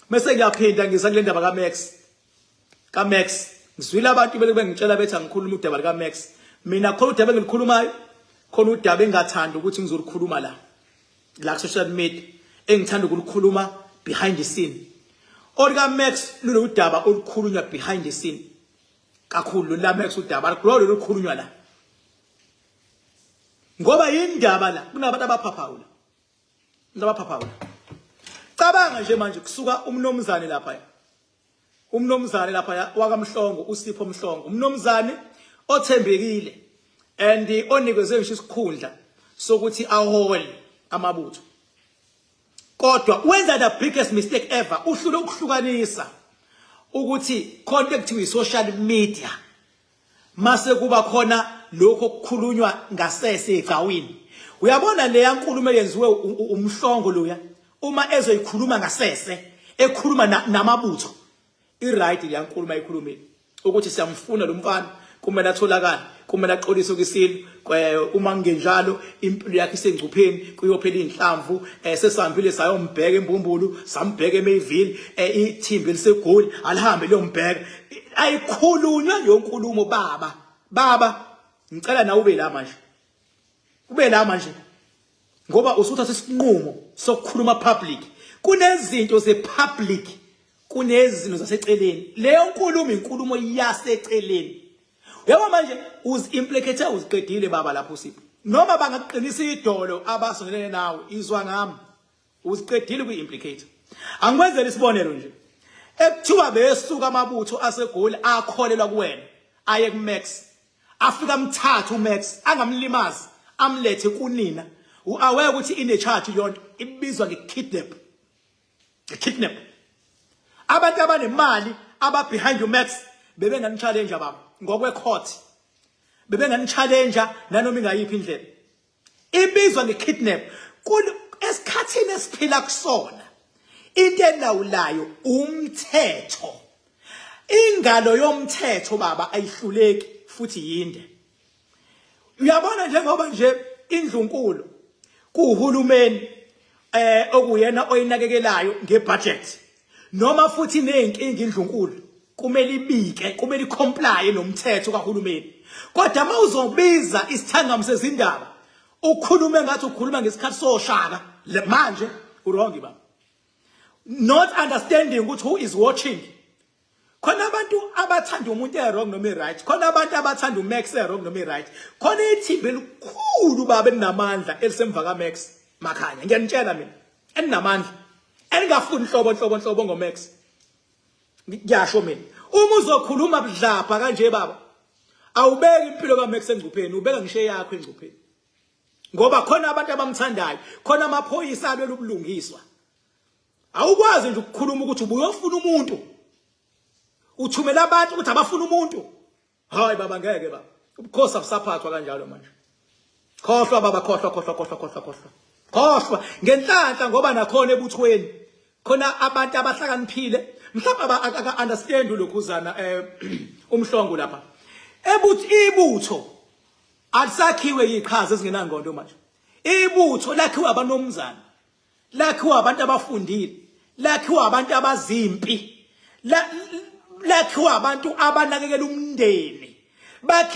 Mese ngiyaphinda ngiza kule ndaba ka Max. Ka Max ngizwile abantu bele bengitshela bethi angikhuluma udaba lika Max. Mina khona udaba engilikhulumayo khona udaba engathanda ukuthi ngizolikhuluma la. La social media engithanda ukulikhuluma behind the scene. Olika Max luludaba olukhulunywa behind the scene. Kakhulu la Max udaba alikulo lolukhulunywa la. Ngoba yindaba la kunabantu abaphaphaula. Ngizabaphaphayo. Cabanga nje manje kusuka umnomzane lapha. Umnomzane lapha wakamhlongo uSipho Mhlongo. Umnomzane othembekile and onikezwe ngisho isikhundla sokuthi ahole amabutho. Kodwa wenza the biggest mistake ever uhlule ukuhlukanisa ukuthi khona ekuthiwa i social media. Mase kuba khona lokho okukhulunywa ngasese egcawini. Uyabona leya nkulumo eyenziwe umhlongo loya uma ezoyikhuluma ngasese ekhuluma namabutho. I-right leya nkulumo ayikhulumile ukuthi siyamfuna lo mfana kumele atholakale kumele axolise kwisintu uma kungenjalo impilo yakhe isengcupheni kuyophela inhlamvu eh, sesambile sayombheka embumbulu sambheka eMayville eh, ithimba elisegoli alihambe liyombheka ayikhulunywa leyo nkulumo baba baba ngicela nawe ube la manje ube la manje ngoba usuthatha isinqumo sokukhuluma public kunezinto ze public kunezinto zaseceleni leyo nkulumo inkulumo yaseceleni yabo manje uzimplicate uziqedile baba lapho usiphi noma bangakuqinisa idolo abasondelene nawe izwa ngami Usiqedile kwi implicator. Angikwenzela isibonelo nje. Ekuthiwa besuka amabutho asegoli akholelwa kuwena aye kuMax. Afika amthatha uMax angamlimazi amlethe kunina. Uaware ukuthi ine charge leyonto ibizwa ngekidnap. Ngekidnap. Abantu abanemali aba behind uMax bebengani challenge baba ngokwe court. Bebengani challenge nanoma ingayiphi indlela. Ibizwa ngekidnap. Esikhathini esiphila kusona into elawulayo umthetho. Ingalo yomthetho baba ayihluleki futhi yinde. Uyabona njengoba nje indlunkulu kuhulumeni eh okuyena oyinakekelayo ngebudget Noma futhi iney'nkinga indlunkulu kumele ibike kumele ikhomplaye nomthetho kahulumeni kodwa uma uzobiza isithangami sezindaba ukhulume ngathi ukhuluma ngesikhathi soshaka manje urongi baba not understanding ukuthi who is watching khona abantu abathanda umuntu e-wrong noma e-right khona abantu abathanda umax e-wrong noma e-right khona ithimba elikhulu baba elinamandla elisemva kamax makhanya ngiyanitshela mina elinamandla elingafuni nhlobo nhlobo nhlobo ngomax ngiyasho mina uma uzokhuluma budlapha kanje baba awubeki impilo kamax engcupheni ubeka ngisho eyakho engcupheni ngoba khona abantu abamthandayo khona amaphoyisa alwela ubulungiswa Awukwazi nje ukukhuluma ukuthi ubuyofuna umuntu. Uthumela abantu ukuthi abafuna umuntu. Hayi baba ngeke baba. Ubukhosi abusaphathwa kanjalo manje. Khohlwa baba khohlwa khohlwa khohlwa khohlwa khohlwa. Khohlwa ngenhlanhla ngoba nakhona ebuthweni. Khona abantu abahlakaniphile mhlawumbe aka understand lokhuzana eh umhlongo lapha. Ebuthi ibutho alisakhiwe yiqhaza ezingenangqondo manje. Ibutho lakhiwa abanomzana. lakhiwa abantu abafundile lakhiwa abantu abazimpi lakhiwa abantu abanakekela umndeni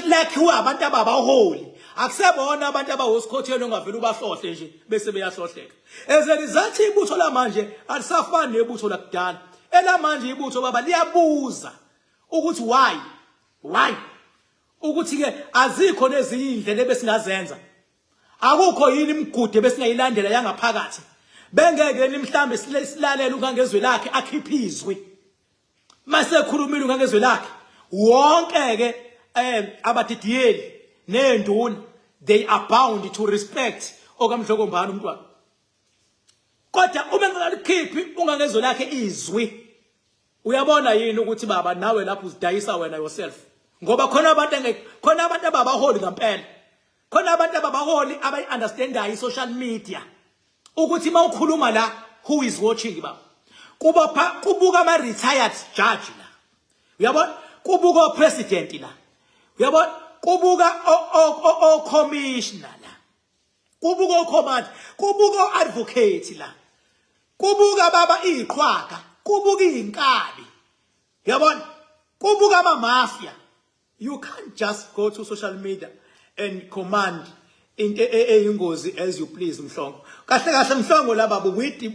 lakhiwa abantu ababaholi akusebona abantu abawosikhotheni ongavele ubahlohle nje bese beyahlohleka as a result ibutho lamanje alisafani nebutho lakudala elamanje ibutho baba liyabuza ukuthi why why ukuthi ke azikho nezinye indlela ebesingazenza Akukho yini imigudu ebesingayilandela yangaphakathi? Bengeke ni mhlambe silalela uNgangezwe lakhe akhiphe izwi. Masekhulumile uNgangezwe lakhe wonke ke eh abadidiyeli nenduna they are bound to respect okamdlokombani umntwana. Kodwa uma ngalikhiphi uNgangezwe lakhe izwi uyabona yini ukuthi baba nawe lapho uzidayisa wena yourself ngoba khona abantu khona abantu ababaholi ngempela khona abantu ababaholi abayi-understandayo i-social media ukuthi uma ukhuluma la who is watching baba kuba kubuka ama-retired judge la uyabona kubuka opresident la uyabona kubuka ocommissioner la kubuka ocommand kubuka o-advocate la kubuka baba iy'qhwaga kubuka iy'nkabi uyabona kubuka amamafia You can't just go to social media and command into e, e, eyingozi as you please mhlongo kahle kahle mhlongo laba ubuyidi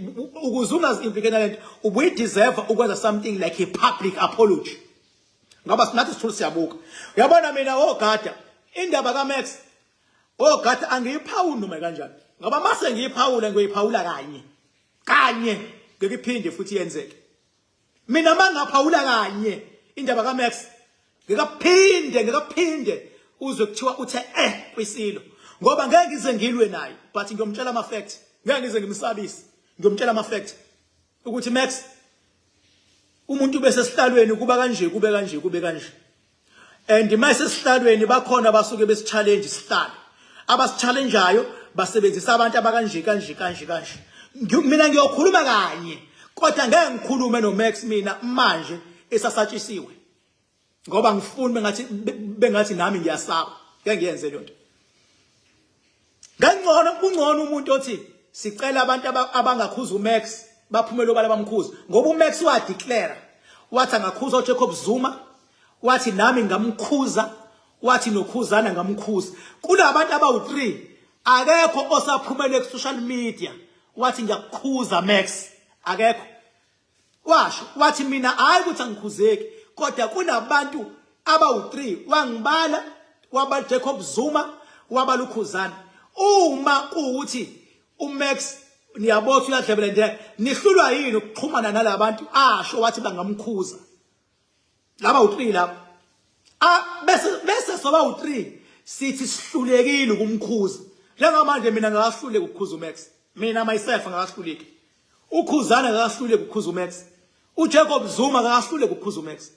ukuze ungazi implicate lento ubuyideserve ukwenza something like a public apology ngoba sinathi sithule siyabuka uyabona mina ogada oh, indaba kaMax ogada oh, angiyiphawuli noma kanjani ngoba mase ngiyiphawula ngiyoyiphawula kanye kanye ngikiphinde futhi yenzeke Mina mangaphawula kanye indaba ka Max ngikaphinde ngikaphinde uzwe kuthiwa uthe eh kwisilo ngoba ngeke ngize ngilwe naye but ngiyomtshela ama facts ngeke ngize ngimsabise ngiyomtshela ama facts ukuthi Max umuntu bese sihlalweni kuba kanje kube kanje kube kanje and uma sesihlalweni bakhona basuke besichallenge sihlale abasichallengeayo basebenzisa abantu abakanje kanje kanje kanje mina ngiyokhuluma kanye kodwa ngeke ngikhulume noMax mina manje esasatshisiwe ngoba ngifuna bengathi bengathi nami ngiyasaba ngeke ngiyenze lento Ngengcono kungcono umuntu othi sicela abantu abangakhuza uMax baphumele obala bamkhuza ngoba uMax wa declare wathi angakhuza uJacob Zuma wathi nami ngamkhuza wathi nokhuzana ngamkhuza kulabantu abawu3 akekho osaphumele ku social media wathi ngiyakukhuza Max akekho Washo wathi mina hayi ukuthi angikhuzeki kodwa kunabantu abawu-3 wangibala waba Jacob Zuma waba lukhuzana uma kuwuthi uMax niyabotha uyadlebelendeka nihlulwa yini ukuxhumana nalabantu asho wathi bangamkhuza laba u3 laba a ah, bese bese soba u3 sithi sihlulekile ukumkhuza njengamanje mina ngakahluleki ukukhuza uMax mina myself ngakahluleki ukhuzana ngakahluleki ukukhuza uMax uJacob Zuma ngakahluleki ukukhuza uMax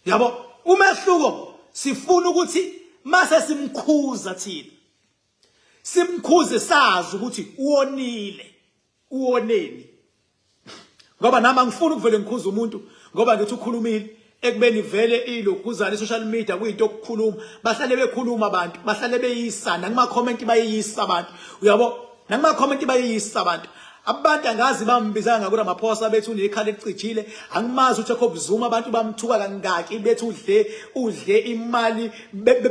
yabo umehluko sifuna ukuthi mase simkhuza thina simkhuze sazi ukuthi uwonile uwoneni ngoba nami angifuni ukuvele ngikhuza umuntu ngoba ngithi ukhulumile ekubeni vele iloguzana i-social media kuyinto okukhuluma bahlale bekhuluma abantu bahlale beyisa nakumakhomenti bayeyisa abantu uyabo nakumakhomenti bayeyisa abantu abantu angazi bambizanga ngakura maphosa bethi unekhala elicijile angimazi ukuthi ekho buzuma abantu bamthuka kangaki bethi udle udle imali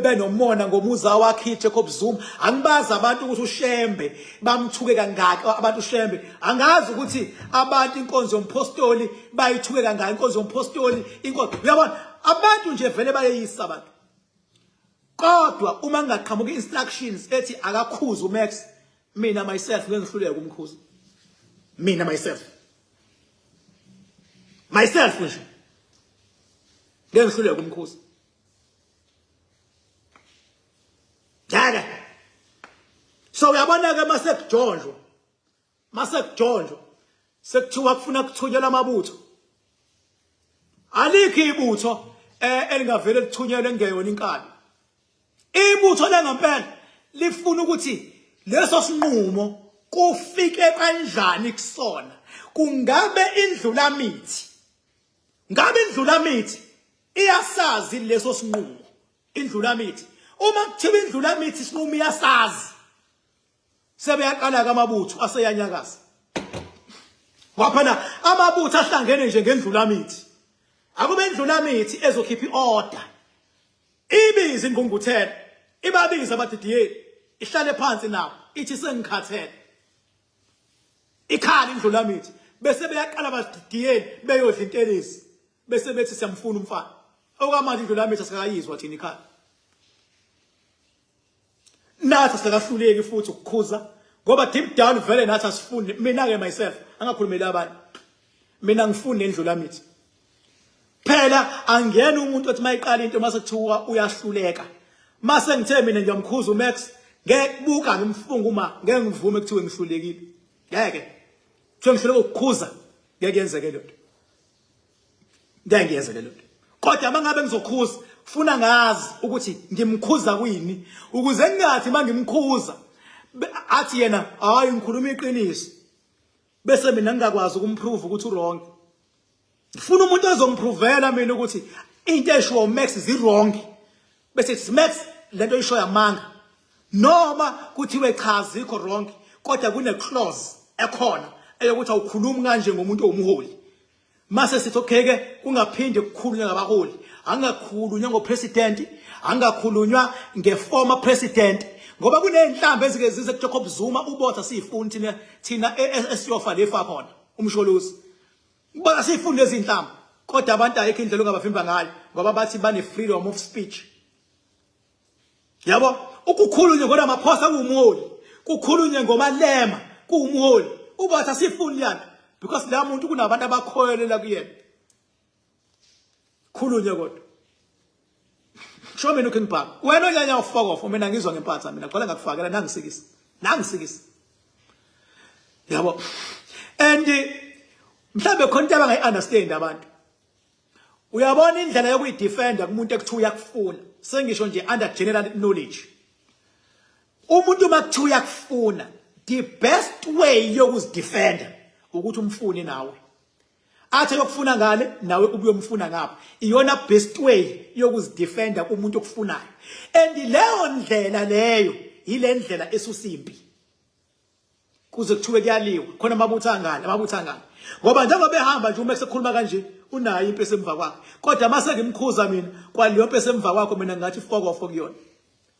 benomona ngomuza wakhe ekho buzuma angibazi abantu ukuthi ushembe bamthuke kangaki abantu shembe angazi ukuthi abantu inkonzo yomphostoli bayithuke kangaki inkonzo yomphostoli inkonzo uyabona abantu nje vele bayeyisa abantu kodwa uma ngingaqhamuka instructions ethi akakhuza umax mina myself ngeke ngihluleke kumkhuza mina myself myself nje ngeke ngihluleke kumkhuza ngeke so uyabona ke mase kujonjwa mase kujonjwa sekuthiwa kufuna kuthunyelwa amabutho alikho ibutho eh, elingavele lithunyelwe ngeyona inkabi ibutho lengempela lifuna ukuthi leso sinqumo kufike kanjani kusona kungabe indlulamithi Ngabe indlulamithi iyasazi leso sinqumo indlulamithi uma kuthiwa indlulamithi isinqumo iyasazi sebeyaqala ke amabutho aseyanyakaza waphana amabutho ahlangene nje ngendlulamithi akube indlulamithi ezokhipha iorder ibiza ingqungquthela ibabiza abadidiyeli ihlale phansi nabo ithi sengikhathele ikhala indlulamithi bese beyaqala bazigigiyeni beyodla intelezi bese bethi siyamfuna umfana okwamanje indlulamithi asikayizwa thina ikhala nathi sakahluleki futhi ukukhuza ngoba deep down vele nathi asifuni mina ke myself angakhulumeli abanye mina ngifuni nendlulamithi phela angiyena umuntu othi mayiqala into mase kuthiwa uyahluleka mase ngithe mina ngiyamkhuza uMax ngekubuka ngimfunga uma ngeke ngivume kuthiwe ngihlulekile ngeke kuthiwe ngihluleka ukukhuza ngeke yenzeke le nto ngeke ngiyenzeke le nto kodwa uma ngabe ngizokhuza funa ngazi ukuthi ngimkhuza kuyini ukuze ngingathi uma ngimkhuza athi yena hayi ngikhuluma iqiniso bese mina ngingakwazi ukumprove ukuthi uwrong ngifuna umuntu ozongiprovela mina ukuthi into eshiwo umax zi-wrong bese kuthi max le nto isho yamanga noma kuthiwe cha zikho wrong kodwa kune-clause ekhona eyokuthi awukhulumi kanje ngomuntu owumholi Mase sithi okay ke kungaphinde kukhulunywe ngabaholi angakhulunywa ngopresident angakhulunywa ngeformer president ngoba kuneyinhlamba ezike zize kuJacob Zuma ubotha siyifuni thina thina e, e, esiyofa lefa khona umsholozi ubona siyifuni lezi inhlamba kodwa abantu ayikho indlela ongabavimba ngayo ngoba bathi bane freedom of speech yabo ukukhulunywe ngoramaphosa kuwumholi kukhulunywe ngomalema kuwumholi ubathi asifuni leyana because la muntu kunabantu abakhoyelela kuyena khulunywe kodwa sho mina ukhe ngibhaka wena onyanya ufokofo mina ngizwa ngempatha mina kugcwale ngakufakela nangisikisa nangisikisa yabo and mhlawumbe khona into abangayi-understand abantu Uyabona indlela yokuyidefenda kumuntu ekuthiwa uyakufuna. Sengisho nje under general knowledge. Umuntu makuthiwa uyakufuna, the best way yokuzidefenda ukuthi umfune nawe. Athe yokufuna ngale nawe ubuyomfuna ngapha. Iyona best way yokuzidefenda kumuntu okufunayo. And leyo ndlela leyo yile ndlela esusimpi. kuze kuthiwe kuyaliwa khona amabutho angani amabutho angani ngoba njengoba behamba nje uma kusekhuluma kanje unayo impi esemva kwakhe kodwa uma sengimkhuza mina kwaleyo mpi esemva kwakho mina ngathi ifokofo kuyona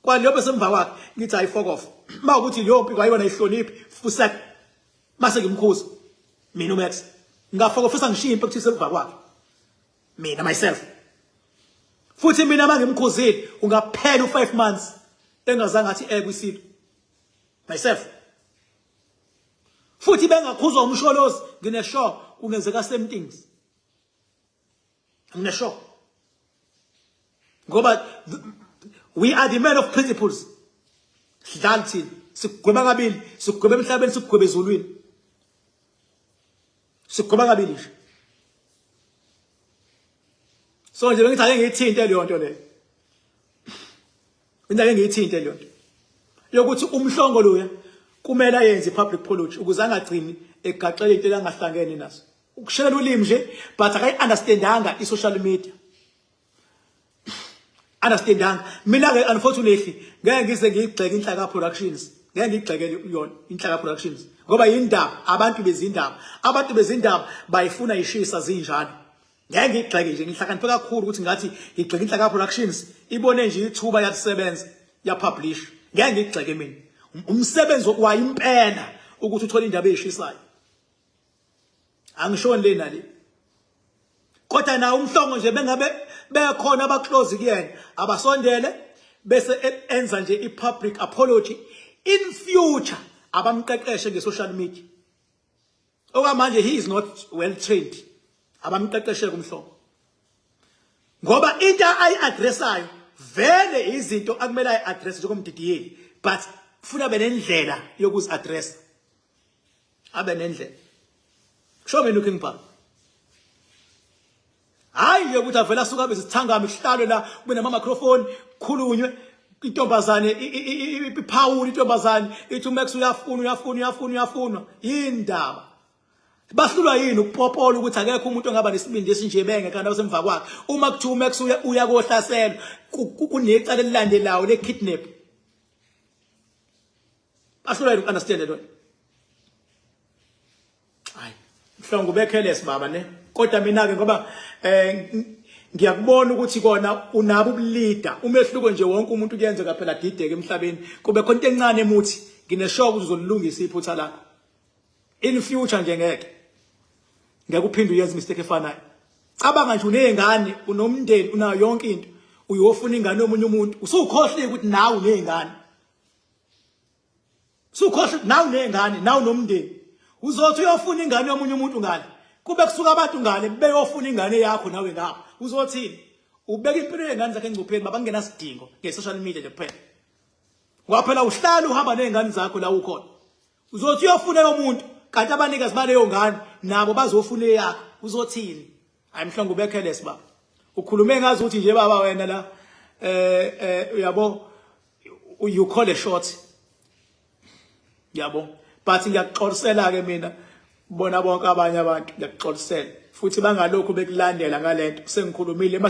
kwaleyo mpi esemva kwakhe ngithi hayi ifokofo uma ukuthi leyo mpi kwayona ihloniphi fusek uma sengimkhuza mina umax ngafokofisa ngishiye impi ekuthise emva kwakhe mina myself futhi mina uma ngimkhuzile ungaphela u-five months engazange athi ekwisilo myself futhi bengakhuzwa umsholozi ngine sure kungenzeka same things ngine sure ngoba we are the men of principles sidlala thina sigweba kabili sigweba emhlabeni sigweba ezulwini sigweba kabili nje so nje bengithi ake ngiyithinte leyo nto leyo Mina ke ngiyithinte leyo nto yokuthi umhlongo loya kumele ayenze public apology ukuze angagcini egaxele into elangahlangene nazo ukushelela ulimi nje but akayi understandanga i social media understandanga mina ke unfortunately ngeke ngize ngigxeke inhlaka productions ngeke ngigxekele yona inhlaka productions ngoba yindaba abantu bezindaba abantu bezindaba bayifuna ishisa zinjalo ngeke ngigxeke nje ngihlakaniphe kakhulu ukuthi ngathi ngigxeke inhlaka productions ibone nje ithuba yakusebenza yapublish ngeke ngigxeke mina umsebenzi wokwayo impela ukuthi uthole indaba eyishisayo angishoni le nale kodwa nawo umhlongo nje bengabe bekhona abaclose kuyena abasondele bese e-, enza nje i-public apology in future abamqeqeshe nge-social media Okwamanje he is not well trained. Abamqeqeshe kumhlobo. Ngoba into ayi-addressayo vele izinto akumele ayi-address njengomdidiyeli but kufuna abe nendlela yokuzi-addressa abe nendlela kusho mina uking bhalo hayi nje ukuthi avela suka besithangami kuhlalwe la kube nama microphone khulunywe intombazane iphawula intombazane ithi uMax uyafuna uyafuna uyafuna uyafuna indaba bahlulwa yini ukupopola ukuthi akekho umuntu ongaba nesibindi esinje benge kanti abasemva kwakhe uma kuthiwa uMax uya kohlaselwa kunecala elilandelayo le kidnap Bahlulwa yini understand lento? Hayi, mhlongo bekheles baba ne. Kodwa mina ke ngoba eh ngiyakubona ukuthi kona unabo ubulida umehluko nje wonke umuntu kuyenzeka phela dideke emhlabeni kube khona into encane emuthi ngineshoka ukuthi uzolilungisa iphutha lakho in future nje ngeke ngeke uphinde uyenze mistake efanayo cabanga nje unezingane unomndeni unayo yonke into uyofuna ingane yomunye umuntu usukhohlike ukuthi nawe unezingane sukhohle nawu nezingane nawu nomndeni uzothi uyofuna ingane yomunye umuntu ngale kube kusuka abantu ngale beyofuna ingane yakho nawe ngapha uzothini ubeka impilo yengane zakhe engcupheni baba kungena sidingo nge-social media nje kuphela waphela uhlala uhamba nezingane zakho la ukhona uzothi uyofuna yomuntu kanti abanikazi baleyo ngane nabo bazofuna eyakho uzothini Hayi mhlongo ubekhele siba. Ukhulume ngazi ukuthi nje baba wena la eh eh uyabo you call a shot. Yabo. But ngiyakuxolisela ke mina bona bonke abanye abantu ngiyakuxolisela futhi bangalokhu bekulandela ngalento sengikhulumile uma